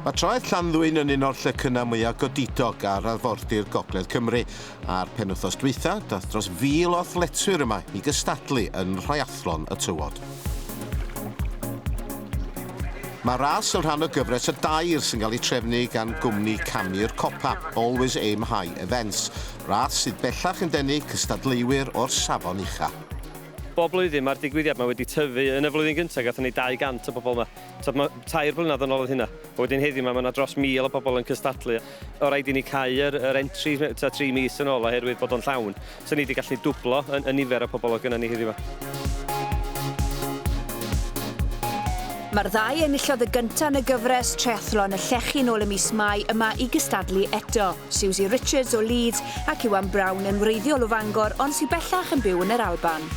Mae traeth Llanddwyn yn un o'r llecynnau mwyaf godidog ar arfordir Gogledd Cymru. A'r penwthos dwytha, dath dros fil o athletwyr yma i gystadlu yn rhaeathlon y tywod. Mae ras yn rhan o gyfres o dair sy'n cael ei trefnu gan gwmni camu'r copa, Always Aim High Events, ras sydd bellach yn denu cystadleuwyr o'r safon ucha'. Bob blwyddyn mae'r digwyddiad 'ma wedi tyfu, yn y flwyddyn gyntaf gathon ni 200 o bobl 'ma, t'od ma' tair blynadd yn ôl oedd hynna, a wedyn heddiw 'ma ma' 'na dros 1000 o bobl yn cystadlu. O rhaid i ni cau yr, yr entry ta tri mis yn ôl oherwydd bod o'n llawn. So ni wedi gallu dwblo y, y nifer o pobl oedd gyda ni heddiw Mae'r ddau enillodd y gyntaf yn y gyfres triathlon y llechi nôl y mis Mai yma i gystadlu eto. Susie Richards o Leeds ac Iwan Brown yn wreiddiol o Fangor ond sy'n bellach yn byw yn yr Alban.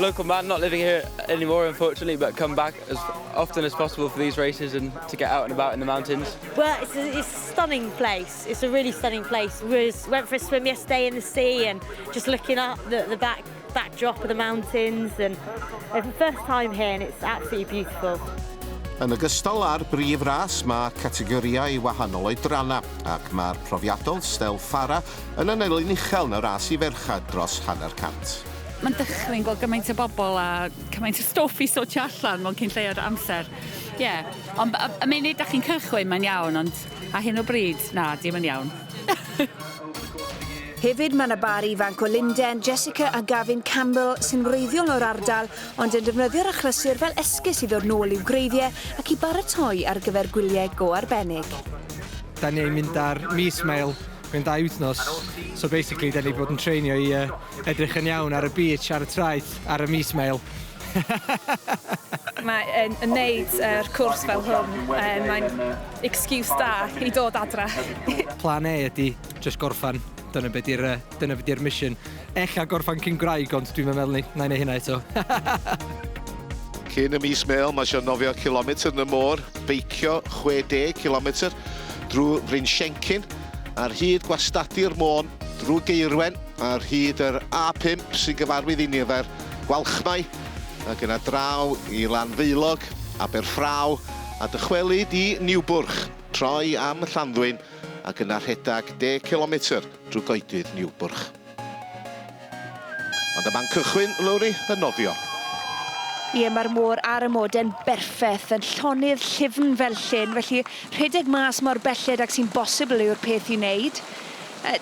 local man, not living here anymore, unfortunately, but come back as often as possible for these races and to get out and about in the mountains. Well, it's a, it's a stunning place. It's a really stunning place. We was, went for a swim yesterday in the sea and just looking up the, the back backdrop of the mountains and it's the first time here and it's absolutely beautiful. Yn ogystal â'r brif ras mae categoriau wahanol oedrana ac mae'r profiadol Stel Fara yn anelyn uchel yn y ras i ferchad dros hanner cant. Mae'n dychryn gweld gymaint o bobl a cymaint o stwff i sortio allan mewn cyn lleied o amser. Ie, ond y, y munud da chi'n cychwyn mae'n iawn, ond a hyn o bryd, na, dim yn iawn. Hefyd mae yna bar ifanc o Linden, Jessica a Gavin Campbell sy'n wreiddiol o'r ardal ond yn defnyddio'r achlysur fel esgus i ddod nôl i'w gwreiddiau ac i baratoi ar gyfer gwyliau go arbennig. Da ni'n mynd ar mis mail, mae'n dau wythnos, so basically da ni bod yn treinio i uh, edrych yn iawn ar y beach ar y traeth ar y mis mêl. Mae yn yn neud yr cwrs fel hwn, um, mae'n excuse da i dod adra. Plan E ydy just gorffan, dyna beth di'r uh, dyna beth di'r mission. Ella gorffan cyn gwraig, ond dwi'n meddwl ni, na i neu hynna eto. Cyn y mis mêl, mae eisiau nofio kilometr yn y môr, beicio 60 kilometr drwy Fryn Siencyn, ar hyd gwastadu'r môn drwy geirwen Ar hyd yr A5 sy'n gyfarwydd i nifer Gwalchmai, ac yna draw i Lanfaelog, Aberffraw, a dychwelyd i Niwbwrch, troi am Llanddwyn, ac yna rhedeg deg cilometr drwy goedydd Niwbwrch. Ond y man cychwyn, Lowri, yn nofio. Ie, mae'r môr ar y mode'n berffeth, yn llonydd llyfn fel llyn, felly rhedeg mas mor belled ag sy'n bosibl yw'r peth i wneud.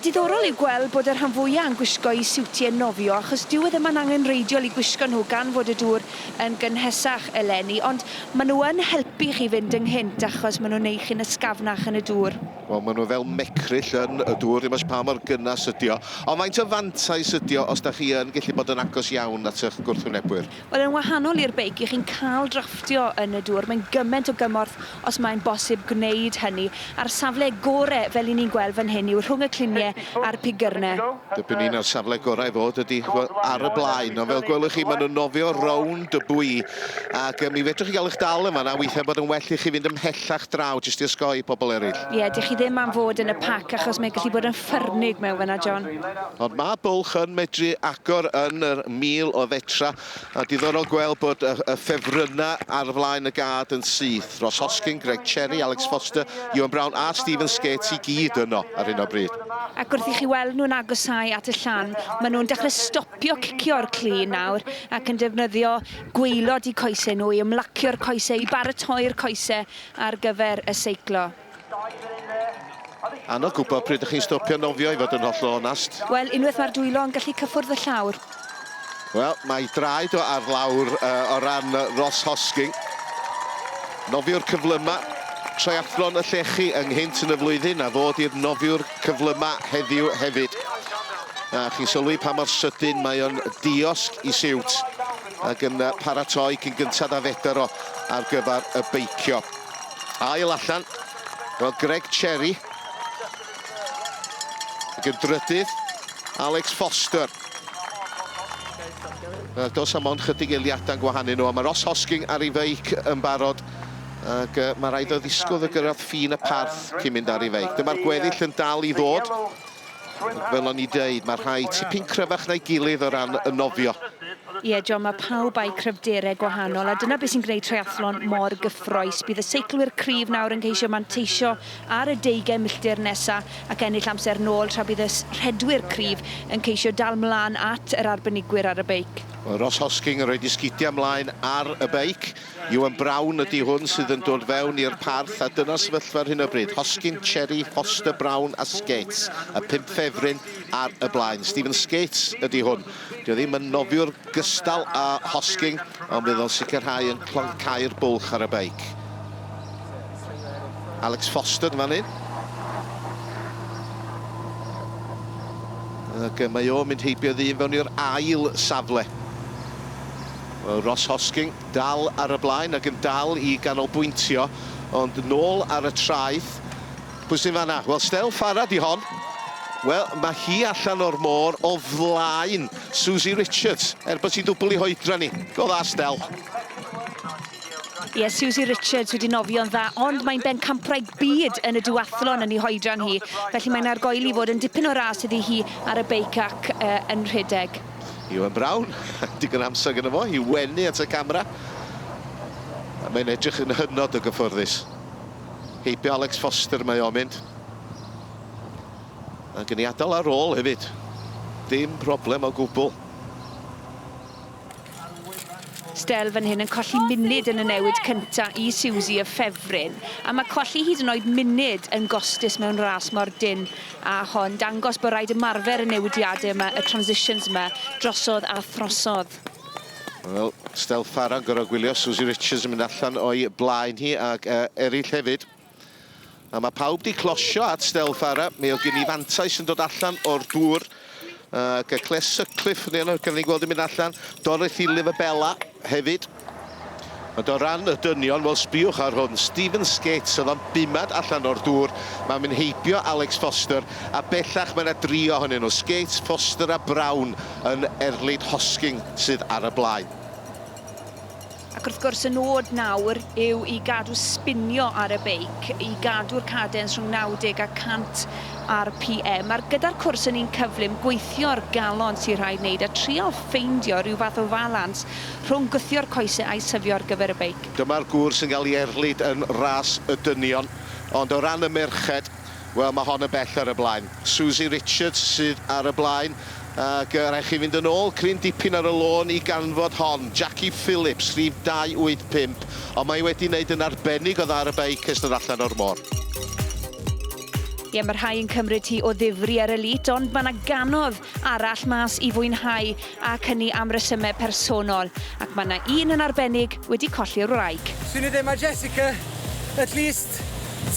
Diddorol yw gweld bod y rhan fwya yn gwisgo eu siwtie nofio achos dyw e ddim yn angenreidiol i gwisgo nhw gan fod y dŵr yn gynhesach eleni, ond maen nhw yn helpu chi fynd ynghynt achos maen nhw'n neu' chi'n ysgafnach yn y dŵr. Wel maen nhw fel mecryll yn y dŵr, ddim ots pa mor gynnas ydi o. Ond faint o fantais ydi o os 'da chi yn gellu bod yn agos iawn at y'ch gwrthwynebwyr? Wel, yn wahanol i'r beic, 'y chi'n cael drafftio yn y dŵr. Mae'n gyment o gymorth os mae'n bosib gwneud hynny. A'r safle gore, fel 'yn ni'n gweld fan hyn, yw rhwng y clunie a'r pigyrne. Dipyn un o'r safle gorau i fod ydy ar y blaen, ond fel gwelwch chi, maen nhw'n nofio rownd y bwy, ac mi fedrwch chi gael eich dal yn fan'na, weithiau bod yn well i chi fynd ymhellach draw jyst i osgoi pobl eraill. Ie, dych chi ddim am fod yn y pac, achos mae'n gallu bod yn ffyrnig mewn fan'na, John. Ond mae bwlch yn medru agor yn yr mil o fetra, a diddorol gweld bod y y ffefrynnau ar flaen y gad yn syth. Ross Hoskin, Greg Cherry, Alex Foster, Ewan Brown a Stephen Skates i gyd yno ar hyn o bryd. Ac wrth i chi weld nhw'n agosáu at y llan, maen nhw'n dechrau stopio cicio'r clun nawr ac yn defnyddio gwaelod eu coesau nhw i ymlacio'r coesau, i baratoi'r coesau ar gyfer y seiclo. Anodd gwybod pryd ydych chi'n stopio nofio i fod yn hollol onast. Wel, unwaith mae'r dwylo yn gallu cyffwrdd fy llawr. Wel, mae draed o ar lawr uh, o ran Ross Hosking. Nofiwr cyflyma, triathlon y llechi ynghynt yn y flwyddyn a fod i'r nofiwr cyflyma heddiw hefyd. A chi'n sylwi pa mor sydyn mae o'n diosg i siwt ac yn paratoi cyn gyntad a fedr o ar gyfer y beicio. Ail allan, wel Greg Cherry ac yn drydydd Alex Foster. Ac os am ond chydig eiliadau'n gwahanu nhw, a mae Ross Hosking ar ei feic yn barod ac mae rhaid o ddisgwyl y gyrraedd ffin y parth cyn mynd ar ei feic. Dyma'r gweddill yn dal i ddod. Fel o'n i deud, mae rhai tipyn cryfach na'i gilydd o ran y nofio. Ie, John, mae pawb â'u cryfderau gwahanol, a dyna beth sy'n gwneud triathlon mor gyffrous. Bydd y seiclwyr cryf nawr yn ceisio manteisio ar y deugain milltir nesaf ac ennill amser nôl, tra bydd y rhedwyr cryf yn ceisio dal 'mlaen at yr arbenigwyr ar y beic. Ross Hosking yn rhoid ei sgidiau 'mlaen ar y beic. Iwan Brown ydi hwn sydd yn dod fewn i'r parth a dyna'r sefyllfa ar hyn o bryd. Hoskin, Cherry, Foster, Brown a Skates, y pump ffefryn ar y blaen. Steven Skates ydi hwn. Dio ddim yn nofiwr gystal â Hosking ond bydd o'n sicrhau yn cloncau'r bwlch ar y beic. Alex Foster yn fan hyn. Ac mae o'n mynd heibiodd un fewn i'r ail safle. Wel, Ross Hosking dal ar y blaen ac yn dal i ganolbwyntio, ond nôl ar y traeth. Pwy sy'n fanna? Wel, Stell Farah di hon. Wel, mae hi allan o'r môr o flaen Susie Richards, er bod hi'n dwbl i hoedran ni. Go dda, Stell. Ie, Susie Richards wedi nofio'n dda, ond mae'n bencampwraig byd yn y duathlon yn ei hoedran hi, felly mae'n argoeli fod yn dipyn o ras iddi hi ar y beic ac yn rhedeg. Iwan Brown, digon amser gyda fo i wenu at y camera. Mae'n edrych yn hynod o gyffyrddus. Heibio Alex Foster mae o'n mynd. Ac yn ei adael ar ôl hefyd. Dim problem o gwbl. Stell fan hyn yn colli munud yn y newid cynta i Siwsi y ffefryn, a mae colli hyd yn oed munud yn gostus mewn ras mor dynn A hon dangos bod rhaid ymarfer y newidiadau yma, y transitions yma, drosodd a throsodd. Wel, Stell Farah yn gorfod gwylio Susie Richards yn mynd allan o'i blaen hi ac uh, eraill hefyd. A mae pawb di closio at Stell Farah. Mi oedd gen i fantais yn dod allan o'r dŵr. Ac y Cles Sutcliffe, ni yna, gan ni gweld yn mynd allan. Dorothy Livabella hefyd. Ond o ran y dynion, wel sbiwch ar hwn, Stephen Skates oedd o'n bumad allan o'r dŵr, mae'n mynd heibio Alex Foster, a bellach mae yna dri ohonyn nhw, Skates, Foster a Brown yn erlid Hosking sydd ar y blaen. Ac wrth gwrs y nod nawr yw i gadw sbinio ar y beic, i gadw'r cadens rhwng 90 a 100 RPM. A'r gyda'r cwrs yn un cyflym, gweithio'r galon sy'n rhaid wneud a trial ffeindio rhyw fath o falans rhwng gwthio'r coesau a'i syfio ar gyfer y beic. Dyma'r gwrs yn cael ei erlid yn Ras y Dynion, ond o ran y merched, Wel, mae hon yn bell ar y blaen. Suzy Richards sydd ar y blaen, ac yy rhaid chi fynd yn ôl cryn dipyn ar y lôn i ganfod hon. Jackie Phillips, rhif 285, ond mae wedi wneud yn arbennig o dda ar y beic ers dod allan o'r môr. Ie, mae rhai yn cymryd hi o ddifri ar y lít, ond mae 'na gannoedd arall mas i fwynhau. ac hynny am resymau personol, ac mae 'na un yn arbennig wedi colli'r wraig. Swn i ddim a Jessica at least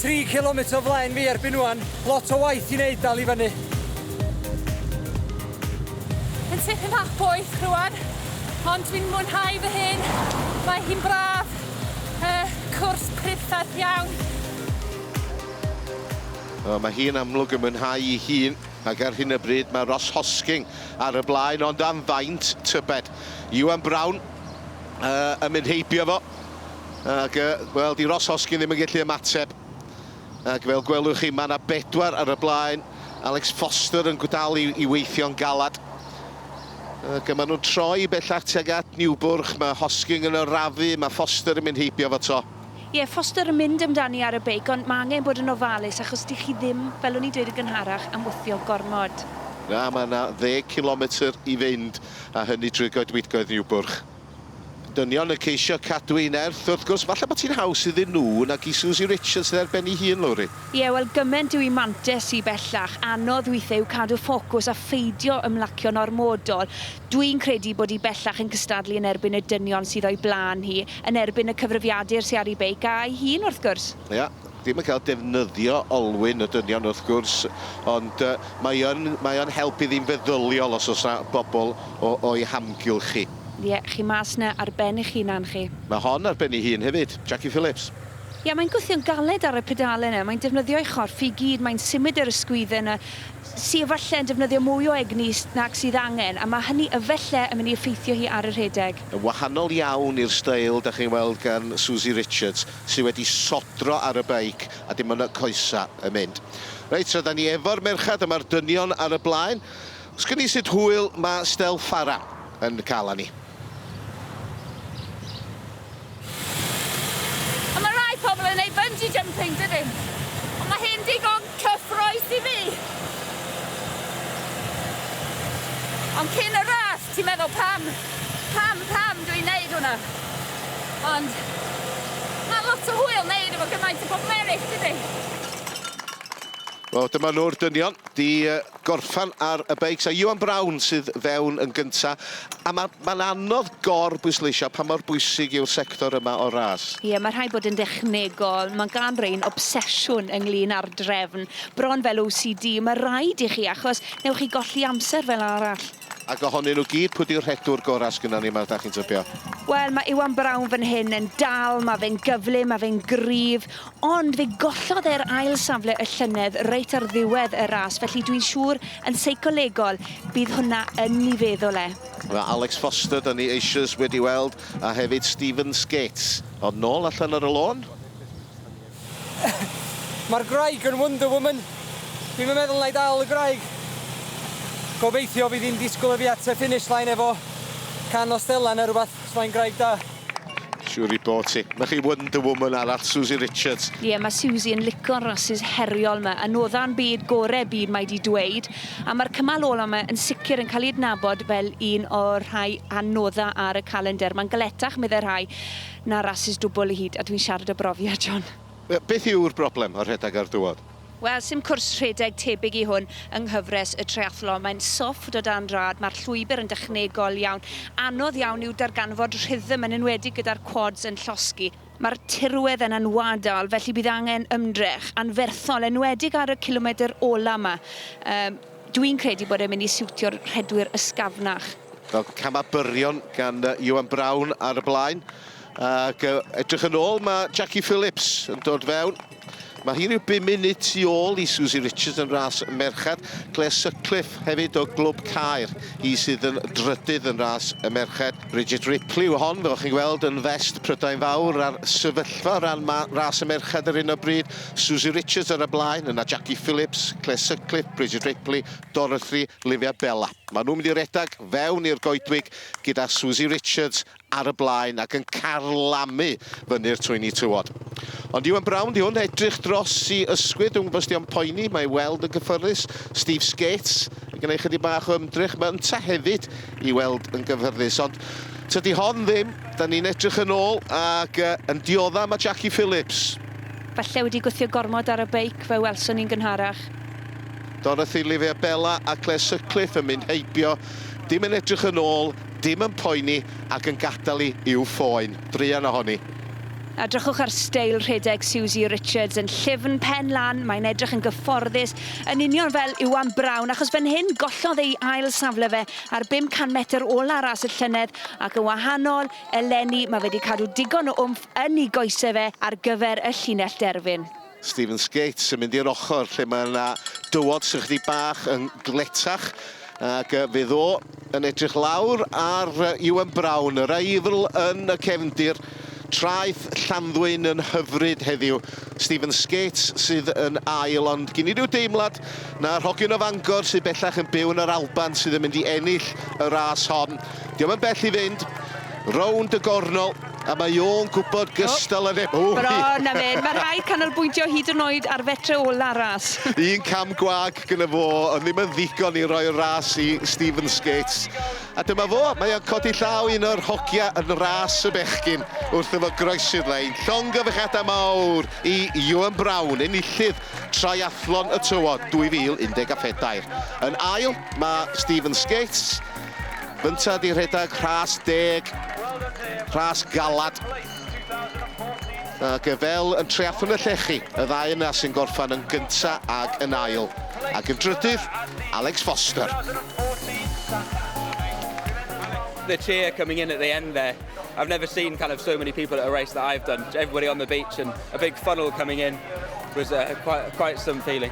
tri cilometr o flaen fi erbyn ŵan, lot o waith i neud dal i fyny. Yn tipyn bach poeth rwan, ond dwi'n mwynhau fy hun, mae hi'n braf, yy cwrs priddferth iawn. Wel mae hi'n amlwg yn mwynhau ei hun, ac ar hyn o bryd mae Ross Hosking ar y blaen, ond am faint tybed. Iwan Brown yn mynd heibio fo, ac wel, 'di Ross Hoskin ddim yn gallu ymateb. Ac fel gwelwch chi, mae yna bedwar ar y blaen. Alex Foster yn gwdal i, i weithio'n galad. Ac yma nhw'n troi bellach tuag at Niwbwrch, mae Hosking yn arafu, mae Foster yn mynd heibio fo to. Ie, Foster yn mynd amdani ar y beic, ond mae angen bod yn ofalus achos dych chi ddim, fel o'n i'n dweud yn gynharach, am wthio gormod. Na, mae yna ddeg cilometr i fynd, a hynny drwy goedwigoedd Niwbwrch. Dynion yn ceisio cadw ei nerth, wrth gwrs. Falle bod hi'n haws iddyn nhw nag i Suzy Richards yn ei ar ben ei hun, Lowri. Ie, wel gyment yw i mantes i bellach, anodd weithiau yw cadw ffocws a pheidio ymlacio'n ormodol. Dwi'n credu bod hi bellach yn cystadlu yn erbyn y dynion sydd o'i blaen hi, yn erbyn y cyfrifiadur sy ar ei beic, a'i hun wrth gwrs. Ie, ddim yn cael defnyddio olwyn y dynion wrth gwrs, ond mae yn, mae o'n help iddi'n feddyliol os oes 'na bobl o, o'i hamgylch hi. Ie, chi mas 'na ar ben eich hunan chi. Mae hon ar ben ei hun hefyd, Jackie Phillips. Ie, mae'n gwthio'n galed ar y pedale 'na, mae'n defnyddio'i chorff i gyd, mae'n symud yr ysgwydd yna, sy efallai yn defnyddio mwy o egni nag sydd angen, a mae hynny efallai yn mynd i effeithio hi ar y rhedeg. Yn wahanol iawn i'r steil dach chi'n weld gan Susie Richards, sy wedi sodro ar y beic a dim ond y coesa yn mynd. Reit, tra 'da ni efo'r merched a ma'r dynion ar y blaen, os gwn i sut hwyl ma' Stel Farah yn ca'l arni. A mae rhai pobl yn ei bungee jumping, dydyn? Ond mae hyn digon cyffroes i fi! Ond cyn y ras, ti'n meddwl pam, pam, pam dwi'n neud hwnna? Ond mae lot o hwyl neud efo gymaint o bobmerich, dydy? Wel, dyma nhw'r dynion. Di gorffan ar y beics a Iwan Brown sydd fewn yn gynta a ma' ma'n anodd gor bwysleisio pa mor bwysig yw'r sector yma o'r ras. Ie ma' rhaid bod yn dechnegol, ma' gan rein obsesiwn ynglŷn â'r drefn, bron fel OCD, ma' raid i chi achos newch chi golli amser fel arall. Ac ohonyn nhw gyd, pwy di'r rhedwr gorau sgynnon ni 'ma dach chi'n tybio? Wel, mae Iwan Brown fan hyn yn dal, mae fe'n gyflym, mae fe'n gryf, ond fe gollodd e'r ail safle y llynedd reit ar ddiwedd y ras, felly dwi'n siŵr, yn seicolegol, bydd hwnna yn 'i feddwl e. Mae Alex Foster 'da ni eisioes wedi weld, a hefyd Stephen Skates. Ond nôl allan ar y lôn. Mae'r gwraig yn wonder woman. Dwi'm yn meddwl 'na i dal y gwraig. Gobeithio fydd hi'n disgwyl i fi at y finish line efo can o Stella neu rwbath, os mae'n gwraig da. Siwr i bo ti. Mae chi wonder woman arall, Susie Richards. Ie, mae Susie yn lico'r rasys heriol 'ma. Anodda'n byd gore byd mae 'di dweud. A mae'r cymal ola 'ma yn sicr yn cael ei adnabod fel un o'r rhai anodda ar y calendr. Mae'n galetach, meddai rhai. Na rasys dwbwl i hyd a dwi'n siarad o brofiad, John. Wel, beth yw'r broblem â rhedeg ar dywod? Wel, sim cwrs rhedeg tebyg i hwn yng nghyfres y triathlon. Mae'n sofft o dan rad, mae'r llwybr yn dechnegol iawn. Anodd iawn yw darganfod rhythm, yn enwedig gyda'r quads yn llosgi. Mae'r tirwedd yn anwadal, felly bydd angen ymdrech anferthol, enwedig ar y cilomedr ola' 'ma. Yy. Dwi'n credu bod e'n mynd i siwtio'r rhedwyr ysgafnach. Fel camau byrion gan Iwan Brown ar y blaen. Ac edrych yn ôl, mae Jackie Phillips yn dod fewn. Mae hi rhyw 5 munud tu ôl i Susie Richards yn ras merched. Claire Sutcliffe hefyd o Glwb Caer, hi sydd yn drydydd yn ras y merched. Bridget Ripley yw hon, fel chi'n gweld, yn fest Prydain Fawr a'r sefyllfa o ran ras y merched ar hyn o bryd. Suzy Richards ar y blaen, yna Jackie Phillips, Claire Sutcliffe, Bridget Ripley, Dorothy, Livia Bella. Maen nhw'n mynd i redeg fewn i'r goedwig gyda Suzy Richards ar y blaen ac yn carlamu fyny'r twyni tywod. Ond Iwan Brown di hwn, edrych dros i ysgwydd, dwi'n gwybod sti o'n poeni, mae weld yn gyffyrddus. Steve Skates yn gwneud chydig bach o ymdrech, mae ynta hefyd i weld yn gyffyrddus. Ond tydi hon ddim, da ni'n edrych yn ôl ac uh, yn diodda mae Jackie Phillips. Falle wedi gwthio gormod ar y beic, fe welson ni'n gynharach. Dorothy, Lifea Bella a Claire Sutcliffe yn mynd heibio, dim yn edrych yn ôl, dim yn poeni ac yn gadael i i'w ffôn. Druan ohoni. Edrychwch ar steil rhedeg Susie Richards yn llyfn pen lan, mae'n edrych yn gyfforddus, yn union fel Iwan Brown, achos fan hyn gollodd ei ail safle fe ar 500 metr ola ras y llynedd ac yn wahanol Eleni, mae wedi cadw digon o wmff yn ei goesau fe ar gyfer y llinell derfyn. Steven Skates yn mynd i'r ochr lle mae yna dywod sy'n chydig bach yn gletach ac fydd o yn edrych lawr ar Iwan Brown, yr aifl yn y cefndir. Traeth Llanddwyn yn hyfryd heddiw. Steven Skates sydd yn ail ond gyn i ryw deimlad na'r hogyn o Fangor sydd bellach yn byw yn yr Alban sydd yn mynd i ennill y ras hon. Diom yn bell i fynd. Rownd y gornol. A mae o'n gwybod gystal â neb. Ww! Bron a mynd. Mae rhaid canolbwyntio hyd yn oed ar fetre ola'r ras. Un cam gwag gyda fo ond ddim yn ddigon i roi'r ras i Stephen Skates. A dyma fo, mae o'n codi llaw un o'r hogia yn ras y bechgyn wrth iddo groesi'r lein. Llongyfarchiadau mawr i Iwan Brown, enillydd Triathlon y Tywod 2014. Yn ail, mae Stephen Skates. Gynta di rhedeg rhas deg, rhas galad. A gyfel yn treathwn y llechi, y ddau yna sy'n gorffan yn gynta ag yn ail. Ac yn drydydd, Alex Foster. the cheer coming in at the end there. I've never seen kind of so many people at a race that I've done. Everybody on the beach and a big funnel coming in was uh, quite, quite some feeling.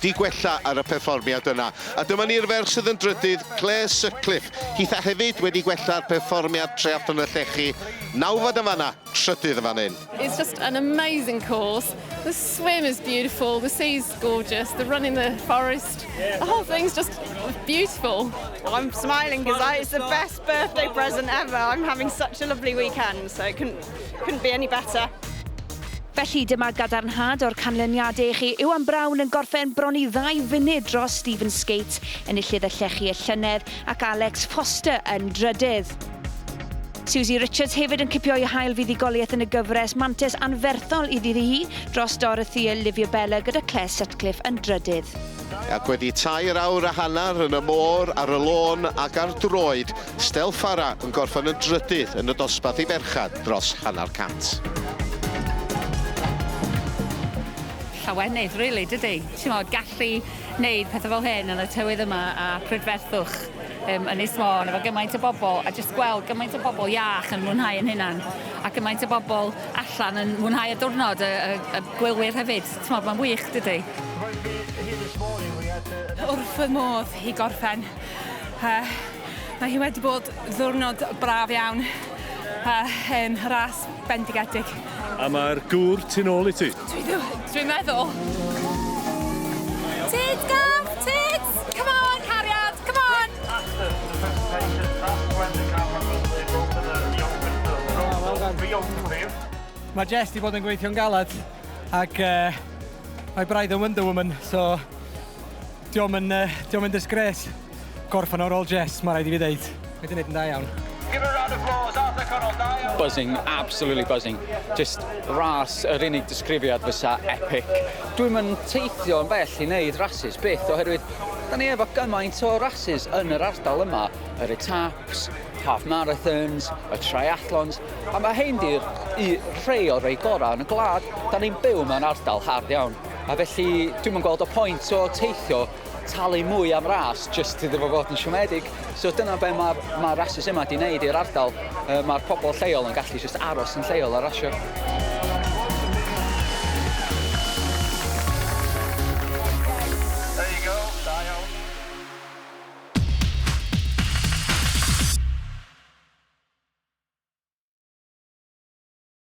'di gwella ar y perfformiad yna. A dyma ni'r ferch sydd yn drydydd, Clare Sutcliffe. Hith a hefyd wedi gwella'r perfformiad Treallwn y Llechi, nawfed yn fanna, trydydd yn fan hyn. It's just an amazing course, the swim is beautiful, the sea's gorgeous, the run in the forest, the whole thing's just beautiful. Well, I'm smiling because it's the best birthday present ever, I'm having such a lovely weekend, so I couldn't Couldn't be any better. Felly dyma gadarnhad o'r canlyniadau i chi. Iwan Brown yn gorffen bron i ddau funud dros Stephen Skate, enillydd y llechi y llynedd, ac Alex Foster yn drydydd. Susie Richards hefyd yn cipio ei hail fuddugoliaeth yn y gyfres mantes anferthol iddi hi dros Dorothy Olivia Bella gyda Claire Sutcliffe yn drydydd. Ac wedi tair awr a hanner yn y môr, ar y lôn ac ar droed, Stell Fara yn gorffen yn drydydd yn y dosbarth i ferched dros hanner cant. Llawenydd, really, dydi? Timod, gallu neud pethau fel hyn yn y tywydd yma a prydferthwch um, Ynys Môn efo gymaint o bobl a jyst gweld gymaint o bobl iach yn mwynhau yn hynna'n a gymaint o bobl allan yn mwynhau y diwrnod y, y, y gwylwyr hefyd. Timod, mae'n wych, dydy? Wrth fy modd i gorffen Uh, mae hi wedi bod ddwrnod braf iawn uh, yn ras bendigedig. A mae'r gŵr tu ôl i ti? Dwi'n dwi meddwl. Tyd, gam! Tyd! Come on, cariad! Come on! Mae Jess wedi bod yn gweithio'n galed ac uh, mae braidd yn Wonder Woman, so Dio'm yn yy dio'm yn disgrace gorffen ar ôl Jess, ma' raid i fi ddeud. Mae 'di neud yn dda iawn. Give a round of applause Arthur Connell, da iawn. Buzzing, absolutely buzzing. Jyst ras, yr unig disgrifiad fysa epic. Dwi'm yn teithio yn bell i neud rasys, byth, oherwydd 'da ni efo gymaint o rasys yn yr ardal yma, yr etaps, half marathons, y triathlons, a ma' hein 'di'r u- rhei o'r rei gora yn y gwlad. 'Da ni'n byw mewn ardal hardd iawn. A felly, dwi'm yn gweld y pwynt o teithio, talu mwy am ras, jyst iddo fo fod yn siomedig. So dyna be mae'r ma rasus yma di wneud i'r ardal. Uh, mae'r pobl lleol yn gallu jyst aros yn lleol a rasio.